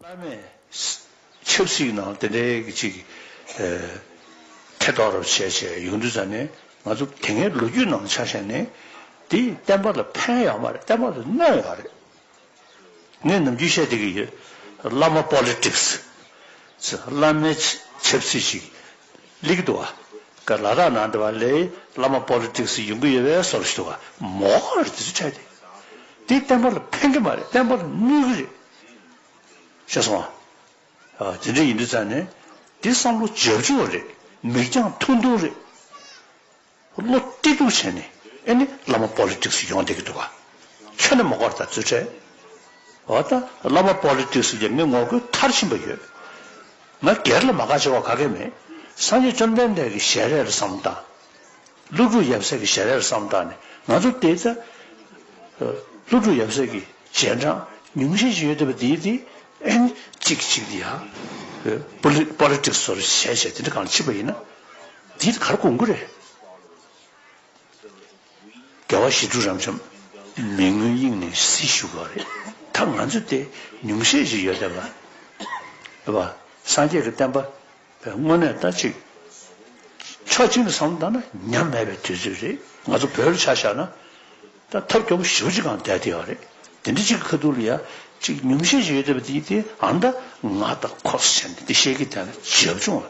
སླར་མས། ཆབ་སྲིད་ནང་དེ་འདྲའི་གི་ཅིག་གི། ཐེ་གཏོགས་རབ་བྱས་བྱས་ཡོང་དུས་ཙང་ནས་ང་ཚོ་དེ་སྔའི་ལོ་རྒྱུས་ནང་ཆ་བཞག་ནས། དེ་བསྟན་པ་ལ་ཕན་ཡོད་མ་རེད་བསྟན་པ་ལ་གནོད་ཡོད་རེད། ངས་ནམ་རྒྱུན་བཤད་བསྡད་ཀྱི་ཡོད། བླ་མ Politics། བླ་མའི་ཆབ་སྲིད་ཞིག་ལིག་འདུག་བ། ག་ལ་དག་ནང་འདི་བ་ལས་བླ་མ Politics ཡོང་གི་ཡོད་བས་སོར་བཞི་འདུག་བ། མོ་ཁོ་རེ་འདི་ཚོ་ཁྲལ་དེ། དེ་བསྟན་པ་ལ་ཕན་གྱི་མ་རེད་བསྟན་པ་ལ་གནོད་གི་རེད། ཤེས་སོང་བ། དེ་འདྲ་ཡིན་དུས་ཙང་ནས་དེ་བསམ་བློ་འཇབ་འཇུག་རེད་མིག་རྒྱང་ཐུང་ཐུང་རེད། བློ་བཀྲེས་སྡུག་བྱས་ནས་ཨེ་ནི་བླ་མ་པོ་ལི་ཀྲིགས་སུ་ཡོང་བསྡད་ཀྱི་འདུག་ག་ཁྱོད་ནི་མ་གོ་ར་ད་རྫུན་ཁྲལ་འོ་ད་བླ་མ་པོ་ལི་ཀྲིགས་སུ་ལས་མི་ངོ་རྒོལ་མཐར་ཕྱིན་པ་ཡོད་ང་སྒེར་ལ་མ་དགའ་བྱེད་བ་ག་གེ་མེད་སངས་རྒྱས་བཅོམ་ལྡན་འདས་ཀྱི་ཞལ་རས་ལ་བསམ་བཏགས་ནས་ཀླུ་སྒྲུབ་ཡབ་སྲས་ཀྱི་ཞལ་རས་ལ་བསམ་བཏགས་ནས་ང་ཚོ་བསྡད་ད་ཀླུ་སྒྲུབ་ཡབ་སྲས་ཀྱི་རྗེས་འབྲང་ཉུང་ཤས་ཤིག་ཡོད་བསྡད་པ་འདིའི་འདི་ཨེ་ནི་གཅིག་གི་གཅིག་འདི་ཡ་བློ་པོ་ལི་ཀྲིགས་སུ་ཞལ་བཞེས་དེ་འདྲ་གང་ལ་མཆིས་པ་ཡིན་ན། འདི་གར་དགོངས་དགོས་རེད། རྒྱལ་བ་ཞི་ཁྲོ་རབ་འབྱམས་མི་མངོན་དབྱིངས་ནས་སྲིད་བཞུགས་པ་རེད། ད་ང་ཚོས་དེ་ཉུང་ཤས་ཤིག་ཡོད་བསྡད་པ་རེད་བ། སངས་རྒྱས་ཀྱི་བསྟན་པ་བས་དངོས་གནས་ལྟ་ཅིག་ཕྱོགས་གཅིག་ནས་བསམ་བློ་བཏང་ན་ཉམས་མེད་པའི་དུས་ཚོད་རེད། ང་ཚོ་བོད་ལ་ཆ་བཞག་ན་ད་ཐབས་སྐྱོ་པོ་བཞི་བཅུ་གང་བསྡད་བསྡད་བ་རེད། དེ་འདྲ་གཅིག་གི་ཁ་ཐུག་ལ་ཡ་གཅིག་ཉུང་ཤས་ཤིག་ཡོད་བསྡད་པ་དེ་ཡིན་དེ་ཨང། ད་ང་ད་ཁོག་ས་ཆགས་ནས་འདི་བཤད་ཀི་བསྡད་ན་ཇེ་བབ་ཆུང་བ།